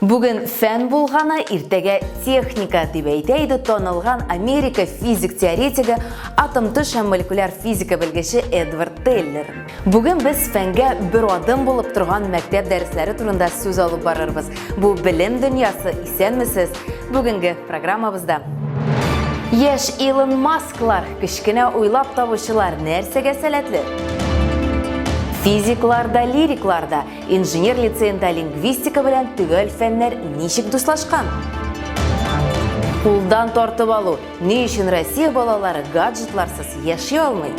Бүген фән булганы, иртәгә техника, дип әйтә иде танылган Америка физик теоретигы, атом төш һәм молекуляр физика белгече Эдвард Теллер. Бүген без фәнгә бер адым булып торган мәктәп дәресләре турында сүз алып барырбыз. Бу белем дөньясы, исәнмесез. Бүгенге программабызда Яшь Илон Масклар, кечкенә уйлап табучылар нәрсәгә сәләтле? Физикларда, лирикларда Инженер лицеенда лингвистика белән төгәл фәннәр ничек дуслашкан? Кулдан тартып алу. Ни өчен Россия балалары гаджетларсыз яши алмый?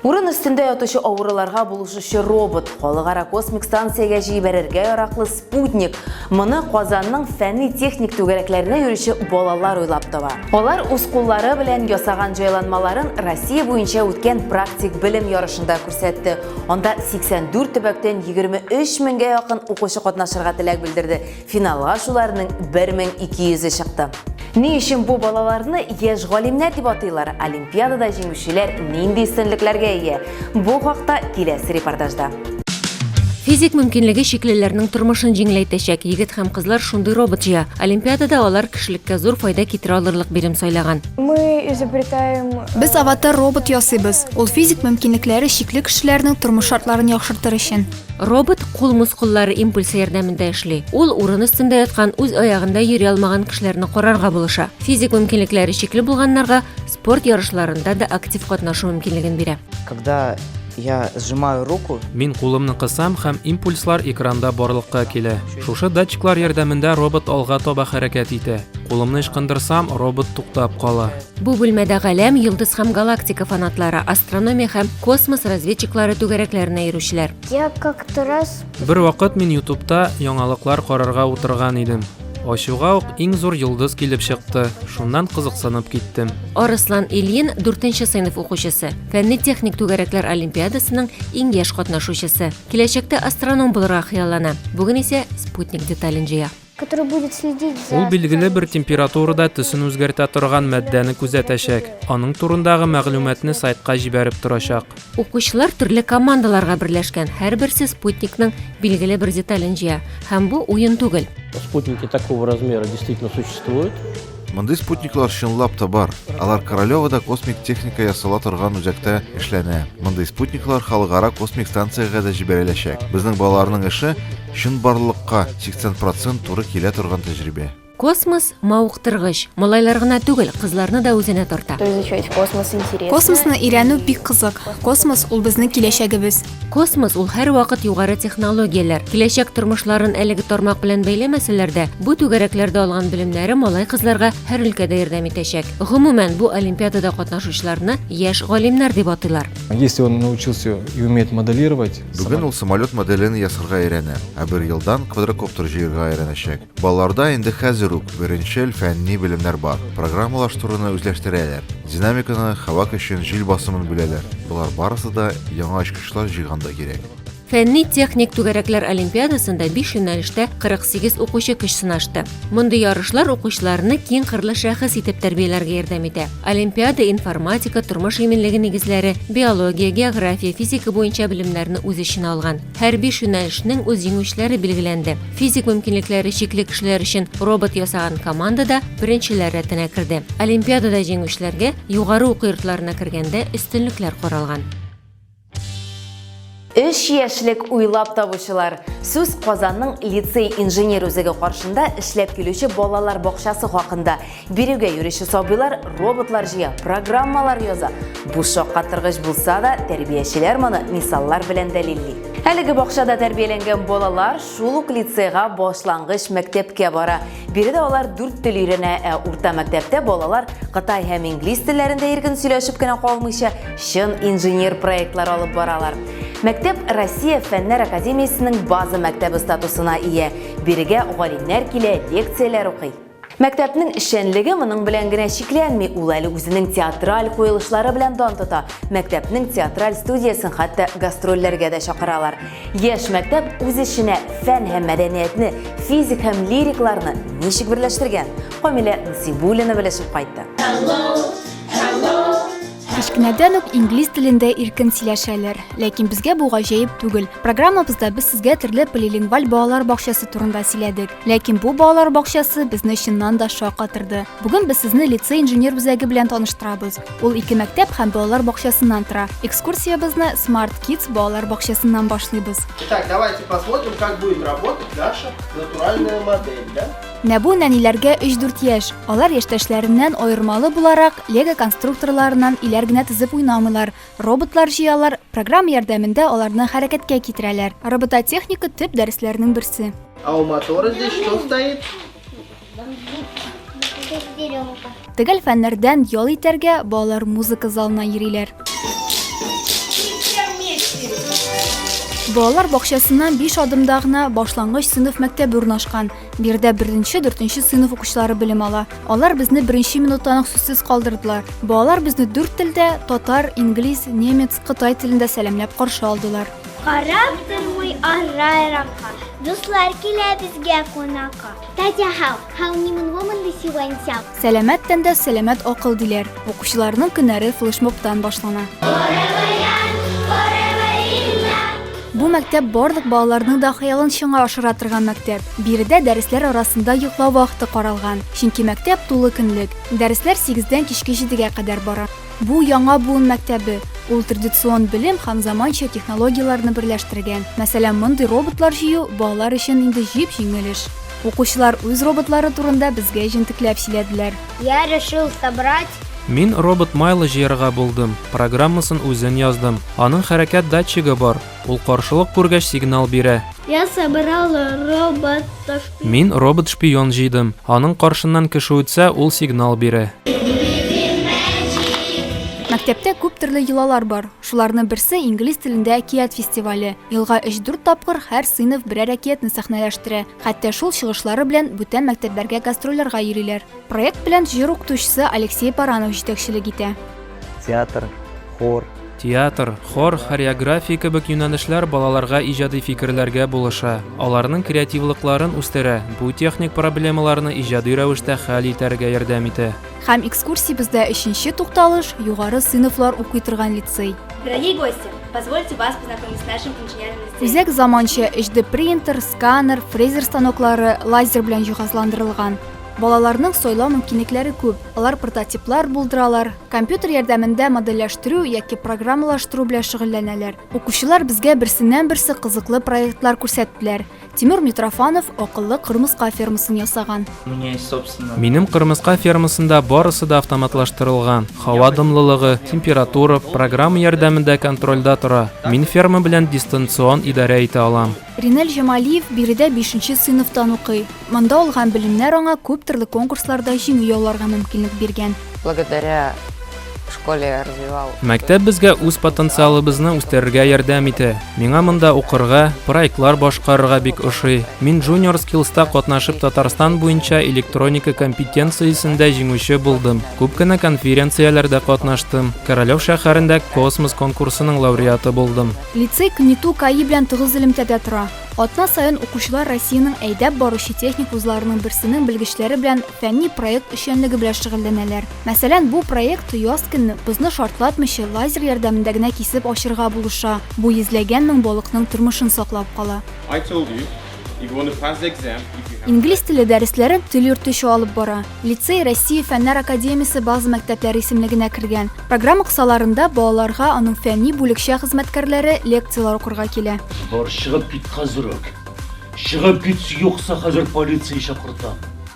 Урын өстендә ятучы авыруларга булышучы робот, халыкара космик станциягә җибәрергә яраклы Спутник, моны Казанның фәнни-техник түгәрәкләренә йөрүче балалар уйлап таба. Алар үз куллары белән ясаган җайланмаларын Россия буенча үткән практик белем ярышында күрсәтте. Анда 84 төбәктән 23 меңгә якын укучы катнашырга теләк белдерде, финалга шуларның 1200-е чыкты. Ни өчен бу балаларны яшь галимнәр дип атыйлар? Олимпиадада җиңүчеләр нинди өстенлекләргә ия? Бу хакта киләсе репортажда. Физик мөмкинлеге чиклеләрнең тормышын җиңеләйтәчәк егет һәм кызлар шундый робот җыя. Олимпиадада алар кешелеккә зур файда китерә алырлык бирем сайлаган. Мы изобретаем... Э, Без аватар робот ясыйбыз. Ул физик мөмкинлекләре чикле кешеләрнең тормыш шартларын яхшыртыр өчен. Робот кул мускуллары импульсы ярдәмендә эшли. Ул урын өстендә яткан, үз аягында йөри алмаган кешеләрне карарга булыша. Физик мөмкинлекләре чикле булганнарга спорт ярышларында да актив катнашу мөмкинлеген бирә. Когда я сжимаю руку, Мин кулымны кысам һәм импульслар экранда барлыкка килә. Шушы датчиклар ярдәмендә робот алга таба хәрәкәт итә. Кулымны ычкындырсам, робот туктап кала. Бу бүлмәдә галәм, йолдыз һәм галактика фанатлары, астрономия һәм космос разведчиклары түгәрәкләренә йөрүчеләр. Я как Тарас. Бер вакыт мин Ютубта яңалыклар карарга утырган идем. Ачуга ук иң зур йолдыз килеп чыкты. Шуннан кызыксынып киттем. Арыслан Ильин, 4 сыйныф укучысы, фәнни-техник түгәрәкләр олимпиадасының иң яшь катнашучысы. Киләчәктә астроном булырга хыяллана. Бүген исә спутник детален җыя. Ул билгеле бер температурада төсен үзгәртә торган матдәне күзәтәчәк. Аның турындагы мәгълүматны сайтка җибәреп торачак. Укучылар төрле командаларга берләшкән, һәрберсе спутникның билгеле бер детален җыя, һәм бу уен түгел. Спутники такого размера действительно существуют. Мондый спутниклар чынлап та бар. Алар Королевода космик техника ясала торган үзәктә эшләнә. Мондый спутниклар халыкара космик станциягә дә җибәреләчәк. Безнең балаларның эше Чынбарлыкка 80 процент туры килә торган тәҗрибә. Космос мавыктыргыч, малайлар гына түгел, кызларны да үзенә тарта. Космосны өйрәнү бик кызык. Космос ул безнең киләчәгебез. Космос ул һәрвакыт югары технологияләр. Киләчәк тормышларын әлеге тармак белән бәйләмәсәләр дә, бу түгәрәкләрдә алган белемнәре малай-кызларга һәр өлкәдә ярдәм итәчәк. Гомумән, бу олимпиадада катнашучыларны яшь галимнәр дип атыйлар. Если он научился и умеет моделировать, Бүген ул самолет моделен ясарга өйрәнә, ә бер елдан квадрокоптер җыерга өйрәнәчәк. Балаларда инде хәзер үк беренчел фәнни белемнәр бар. Программалаштыруны үзләштерәләр, динамиканы, һава көчен, җил басымын беләләр. Болар барысы да яңа очкычлар җыйганда кирәк. Фәнни-техник түгәрәкләр олимпиадасында биш юнәлештә 48 укучы көч сынашты. Мондый ярышлар укучыларны киң кырлы шәхес итеп тәрбияләргә ярдәм итә. Олимпиада информатика, тормыш иминлеге нигезләре, биология, география, физика буенча белемнәрне үз эченә алган. Һәр биш юнәлешнең үз җиңүчеләре билгеләнде. Физик мөмкинлекләре чикле кешеләр өчен робот ясаган команда да беренчеләр рәтенә керде. Олимпиадада җиңүчеләргә югары уку йортларына кергәндә өстенлекләр каралган. Өч яшьлек уйлап табучылар. Сүз Казанның лицей инженер үзеге каршында эшләп килүче балалар бакчасы хакында. Бирегә йөрүче сабыйлар роботлар җыя, программалар яза. Бу шаккатыргыч булса да, тәрбиячеләр моны мисаллар белән дәлилли. Әлеге бакчада тәрбияләнгән балалар шул ук лицейга башлангыч мәктәпкә бара. Биредә алар дүрт тел өйрәнә, ә урта мәктәптә балалар кытай һәм инглиз телләрендә иркен сөйләшеп кенә калмыйча, чын инженер проектлар алып баралар. Мәктәп Россия фәннәр академиясенең база мәктәбе статусына ия. Бирегә галимнәр килә, лекцияләр укый. Мәктәпнең эшчәнлеге моның белән генә чикләнми, ул әле үзенең театраль куелышлары белән дан тота. Мәктәпнең театраль студиясен хәтта гастрольләргә дә чакыралар. Яшь мәктәп үз эченә фән һәм мәдәниятне, физик һәм лирикларны ничек берләштергән? Камилә Зибулина белешеп кайтты. Кечкенәдән үк инглиз телендә иркен сөйләшәләр. Ләкин безгә бу гаҗәеп түгел. Программабызда без сезгә төрле полилингваль балалар бакчасы турында сөйләдек. Ләкин бу балалар бакчасы безне чыннан да шаккатырды. Бүген без сезне лицей инженер үзәге белән таныштырабыз. Ул ике мәктәп һәм балалар бакчасыннан тора. Экскурсиябезне Smart Kids балалар бакчасыннан башлыйбыз. Итак, давайте посмотрим, как будет работать наша натуральная модель, да? Нәбу нәниләргә 3-4 яшь. Алар яшьтәшләреннән аермалы буларак, лего конструкторларынан иләр генә тезеп уйнамыйлар. Роботлар җыялар, программа ярдәмендә аларны хәрәкәткә китерәләр. Робототехника төп дәресләрнең берсе. А у мотора здесь что стоит? Төгәл фәннәрдән ял итәргә балалар музыка залына йөриләр. Балалар бакчасыннан биш адымда гына башлангыч сыйныф мәктәбе урнашкан. Биредә беренче, дүртенче сыйныф укучылары белем ала. Алар безне беренче минуттан ук сүзсез калдырдылар. Балалар безне дүрт телдә, татар, инглиз, немец, кытай телендә сәламләп каршы алдылар. Карап тормый аррайракка, дуслар килә безгә кунакка. Татя хау, хау нимын вомын ды сивен сяу. Сәләмәт тәндә сәләмәт акыл диләр. Укучыларның көннәре флешмобтан башлана. Бу мәктәп барлык балаларның да хыялын чыңа ашыра торган мәктәп. Биредә дәресләр арасында йоклау вакыты каралган, чөнки мәктәп тулы көнлек. Дәресләр 8 дән кичке 7 гә кадәр бара. Бу яңа буын мәктәбе, ул традицион белем һәм заманча технологияләрне берләштергән. Мәсәлән, мондый роботлар җыю балалар өчен инде җип-җиңел эш. Укучылар үз роботлары турында безгә җентекләп сөйләделәр. Я решил собрать. Мин робот майлы җыярга булдым, программасын үзен яздым. Аның хәрәкәт датчигы бар. Ул каршылык күргәч сигнал бирә. Я собрал робот шпион. Мин робот шпион җыйдым. Аның каршыннан кеше үтсә, ул сигнал бирә. Мәктәптә күп төрле йолалар бар. Шуларны берсе инглиз телендә әкият фестивале. Елга 3-4 тапкыр һәр сыйныф берәр әкиятне сәхнәләштерә. Хәтта шул чыгышлары белән бүтән мәктәпләргә гастрольләргә йөриләр. Проект белән җыр укытучысы Алексей Баранов җитәкчелек итә. Театр, хор, Театр, хор, хореография кебек юнәлешләр балаларга иҗади фикерләргә булыша, аларның креативлыкларын үстерә, бу техник проблемаларны иҗади рәвештә хәл итәргә ярдәм итә. Һәм экскурсиябездә өченче тукталыш, югары сыйныфлар укый торган лицей. Дорогие гости, позвольте вас познакомить с нашим инженерным лицеем. Үзәк заманча HD принтер, сканер, фрезер станоклары, лазер белән җиһазландырылган. Балаларның сайлау мөмкинлекләре күп. Алар прототиплар булдыралар, компьютер ярдәмендә модельләштерү яки программалаштыру белән шөгыльләнәләр. Укучылар безгә берсеннән-берсе кызыклы проектлар күрсәттеләр. Тимур Митрофанов акыллы кырмыска фермасын ясаган. Минем кырмыска фермасында барысы да автоматлаштырылган, һава дымлылыгы, температура программа ярдәмендә контрольдә тора. Мин ферма белән дистанцион идарә итә алам. Ринель Җамалиев биредә бишенче сыйныфтан укый. Монда алган белемнәр аңа күп төрле конкурсларда җиңү яуларга мөмкинлек биргән. Благодаря школе я развивал. Мәктәп безгә үз потенциалыбызны үстерергә ярдәм итә. Миңа монда укырга, проектлар башкарырга бик ошый. Мин Junior Skills та катнашып Татарстан буенча электроника компетенциясендә җиңүче булдым. Күп кенә конференцияләрдә катнаштым. Королев шәһәрендә Космос конкурсының лауреаты булдым. Лицей КНИТУ КАИ белән тыгыз элемтәдә тора. Атна саен укучылар Россиянең әйдәп баручы техник вузларының берсенең белгечләре белән фәнни проект эшчәнлеге белән шөгыльләнәләр. Мәсәлән, бу проект яз көнне бозны шартлатмыйча лазер ярдәмендә генә кисеп ачырга булыша, бу йөзләгән мең балыкның тормышын саклап кала. Инглиз теле дәресләрен тел йөртүче алып бара. Лицей Россия фәннәр академиясе база мәктәпләре исемлегенә кергән. Программа кысаларында балаларга аның фәнни бүлекчә хезмәткәрләре лекцияләр укырга килә. Бар, чыгып кит хәзер үк! Чыгып кит, юкса хәзер полиция чакыртам!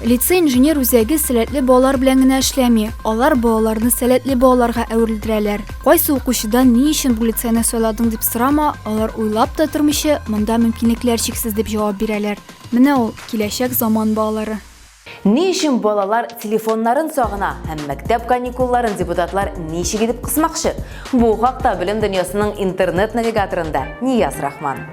Лицей инженер үзәге сәләтле балалар белән генә эшләми, алар балаларны сәләтле балаларга әверелдерәләр. Кайсы укучыдан ни өчен бу лицейны сайладың дип сорама, алар уйлап та тормыйча, монда мөмкинлекләр чиксез дип җавап бирәләр. Менә ул, киләчәк заман балалары. Ни өчен балалар телефоннарын сагына һәм мәктәп каникулларын депутатлар ничек итеп кысмакчы? Бу хакта белем дөньясының интернет-навигаторында Нияз Рахман.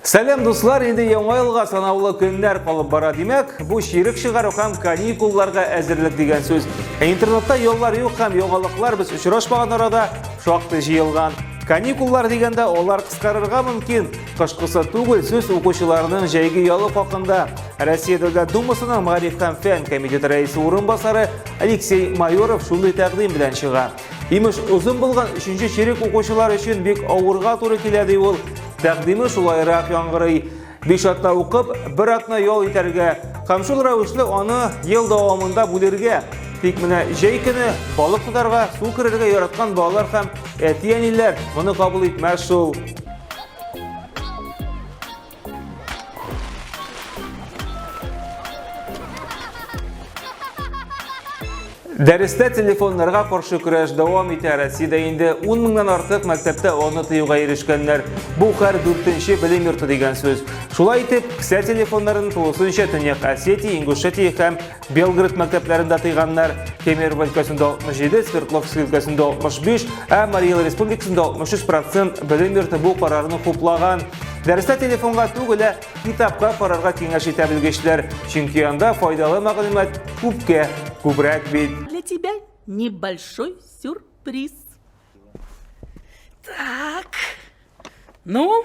Сәлем дуслар, инде яңа елга санаулы көннәр калып бара димәк, бу ширек чыгару һәм каникулларга әзерлек дигән сүз. Ә интернетта яллар юк һәм яңалыклар без очрашмаган арада шактый җыелган. Каникуллар дигәндә алар кыскарырга мөмкин. Кышкысы түгел сүз укучыларның җәйге ялы хакында. Россия Дәүләт Думасының Мәгариф һәм фән комитеты рәисе урынбасары Алексей Майоров шундый тәкъдим белән чыга. Имеш, озын булган өченче черек укучылар өчен бик авырга туры килә ди ул. Тәкъдиме шулайрак яңгырый. Биш атна укып, бер атна ял итәргә. Һәм шул рәвешле аны ел дәвамында бүлергә. Тик менә җәй көне балык тотарга, су керергә яраткан балалар һәм әти-әниләр моны кабул итмәс шул. Дәрестә телефоннарга каршы көрәш дәвам итә. Россиядә инде 10 меңнән артык мәктәптә аны тыюга ирешкәннәр. Бу хәр 4-нче белем йорты дигән сүз. Шулай итеп, кесә телефоннарын тулысынча Төньяк Осетия, Ингушетия һәм Белгород мәктәпләрендә тыйганнар, Кемерово өлкәсендә 67, Свердловск өлкәсендә 65, ә Марий Эл республикасында 63 процент белем йорты бу карарны хуплаган. Дәрестә телефонга түгел, ә китапка карарга киңәш итә белгечләр, чөнки анда файдалы мәгълүмат күпкә күбрәк бит. Для тебя небольшой сюрприз. Так. Ну,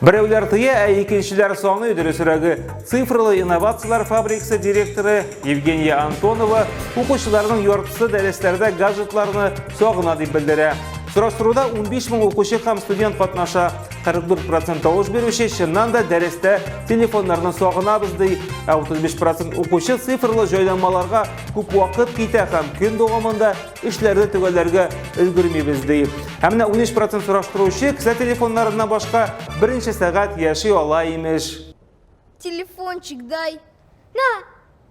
Берәүләр тыя, ә икенчеләр саный, дөресрәге, цифрлы инновацияләр фабрикасы директоры Евгения Антонова укучыларның яртысы дәресләрдә гаджетларны сагына дип белдерә. Сораштыруда 15 мең укучы һәм студент катнаша. 44% тавыш бирүче чыннан да дәрестә телефоннарны сагынабыз ди, ә 35% укучы цифрлы җайланмаларга күп вакыт китә һәм көн дәвамында эшләрне төгәлләргә өлгермибез, ди. Һәм менә 13 процент сораштыручы кесә телефоннарыннан башка берничә сәгать яши ала, имеш. Телефончик дай. На,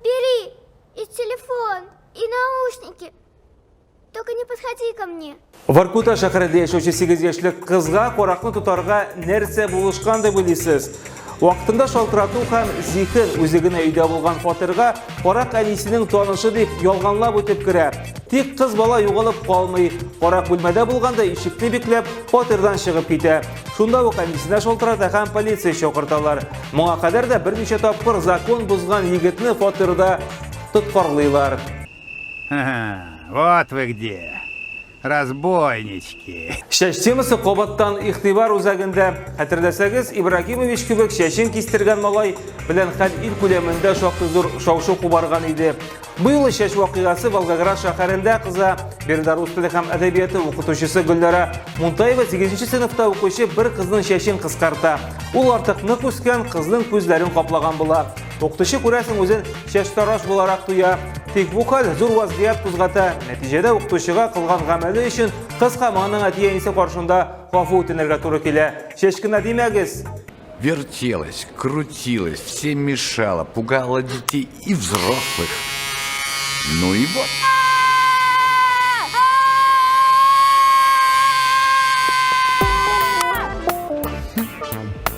бери, и телефон, и наушники. Только не подходи ко мне. Воркута шәһәрендә яшәүче 8 яшьлек кызга каракны тотарга нәрсә булышкан дип уйлыйсыз? Вакытында шалтырату һәм зихер үзе генә өйдә булган фатирга карак әнисенең танышы дип ялганлап үтеп керә. Тик кыз бала югалып калмый. Карак бүлмәдә булганда ишекне бикләп, фатирдан чыгып китә. Шунда ук әнисенә шалтырата һәм полиция чакырталар. Моңа кадәр дә берничә тапкыр закон бозган егетне фатирда тоткарлыйлар. Вот вы где! Разбойнички! Чәч темасы кабаттан игътибар үзәгендә. Хәтерләсәгез, Ибрагимович кебек чәчен кистергән малай белән хәл ил күләмендә шактый зур шау-шу кубарган иде. Бу юлы чәч вакыйгасы Волгоград шәһәрендә кыза. Биредә рус теле һәм әдәбияты укытучысы Гөлнара Мунтаева 8 сыйныфта укучы бер кызның чәчен кыскарта. Ул артык нык үскән, кызның күзләрен каплаган була. Укытучы күрәсең үзен чәчтараш буларак тоя. Тик бу хәл зур вазгыять кузгата. Нәтиҗәдә укытучыга кылган гамәле өчен кыска моның әти-әнисе каршында гафу үтенергә туры килә. Чәчкенә димәгез! Вертелась, крутилась, все мешала, пугала детей и взрослых. Ну и вот.